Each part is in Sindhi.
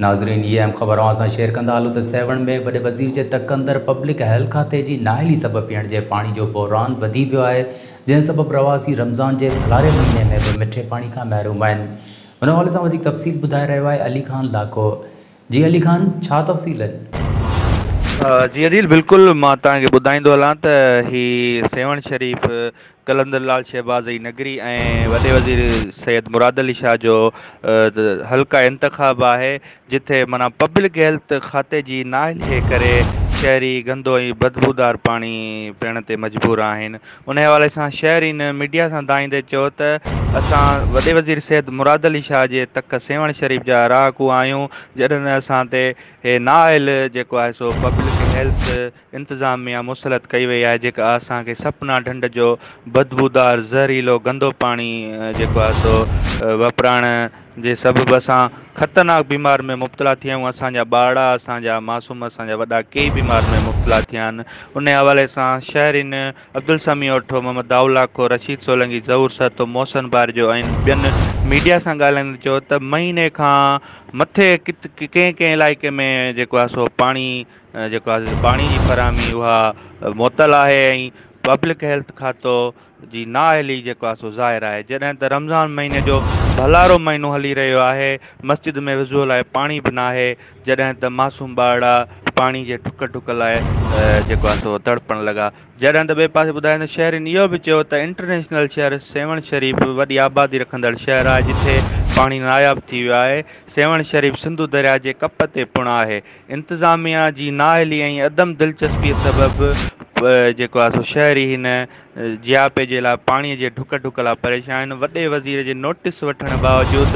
ناظرين هي اهم خبر اوهان سان شيئر ڪندا هلون ته سيوهڻ ۾ وڏي وزير جي تڪ اندر پبلڪ هيلٿ کاتي جي نااهلي سبب پيئڻ جي پاڻي جو بحران وڌي ويو آهي جنهن سبب رهواسي رمضان جي ٿلهاري مهيني ۾ به مٺي پاڻي کان محروم آهن ان حوالي سان وڌيڪ تفصيل ٻڌائي رهيو آهي علي خان لاکو جي علي خان ڇا تفصيل آهي. جي عديل بلڪل مان توهان کي ٻڌائيندو هلان ته هي سيوهڻ شريف قلندر لال شهباز جي نگري ۽ وڏي وزير سيد مراد علي شاهه جو حلقه انتخاب آهي جتي معنيٰ پبلڪ هيلٿ کاتي جي نااهلي ڪري شهري گندو ۽ بدبودار پاڻي پيڻ تي مجبور آهن ان حوالي سان شهرين ميڊيا سان دانهيندي چيو ته اسان وڏي وزير سيد مراد علي شاهه جي تڪ سيوهڻ شريف جا رهاڪو آهيون جڏهن اسان تي هي نااهل جيڪو آهي سو پبلڪ هيلٿ انتظاميا مسلط ڪئي وئي آهي جيڪا اسان کي سپنا ڍنڍ جو بدبودار زهريلو گندو پاڻي جيڪو آهي سو وپرائڻ جي سبب اسان خطرناڪ بيمار ۾ مبتلا ٿيا آهيون، اسان جا ٻارڙا، اسان جا معصوم، اسان جا وڏا ڪيئي بيمار ۾ مبتلا ٿيا آهن، انهي حوالي سان شهرين عبدالسميع اٺو، محمد دائو لاکو، رشيد سولنگي، ظهور سهتو، محسن بارجو ۽ ٻين ميڊيا سان ڳالهائيندي چيو ته مهيني کان مٿي ڪنهن ڪنهن علائقي ۾ جيڪو آهي سو پاڻي جيڪو آهي پاڻي جي فراهمي اها معطل آهي ۽ پبلڪ هيلٿ کاتو جي نااهلي جيڪو آهي سو ظاهر آهي جڏهن ته رمضان مهيني جو ڀلارو مهينو هلي رهيو آهي مسجد ۾ وضوء لاء پاڻي به ناهي جڏهن ته معصوم ٻارڙا پاڻي جي ڍڪ ڍڪ لاء جيڪو آهي سو تڙپڻ لڳا جڏهن ته ٻئي پاسي ٻڌايو ته شهرين اهو به چيو ته انٽرنيشنل شهر سيوهڻ شريف وڏي آبادي رکندڙ شهر آهي جتي پاڻي ناياب ٿي ويو آهي سيوهڻ شريف سنڌو درياء جي ڪپ تي پڻ آهي انتظاميا جي نااهلي ۽ عدم دلچسپي سبب جيڪو آهي سو شهري هن جياپي جي لاء پاڻي جي ڍڪ ڍڪ لاء پريشان وڏي وزير جي نوٽيس وٺڻ باوجود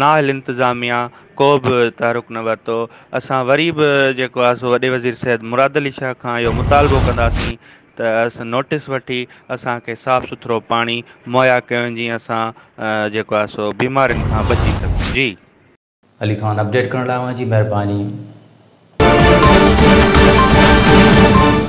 نااهل انتظاميا ڪو به تحرڪ نه ورتو اسان وري به جيڪو آهي سو وڏي وزير سيد مراد علي شاهه کان اهو مطالبو ڪنداسين ته اس نوٽيس وٺي اسان کي صاف سٿرو پاڻي مهيا ڪيو وڃي جيئن اسان جيڪو آهي سو بيمارين کان بچي سگهون جي. علي خان اپڊيٽ ڪرڻ لاء اوهان جي مهرباني.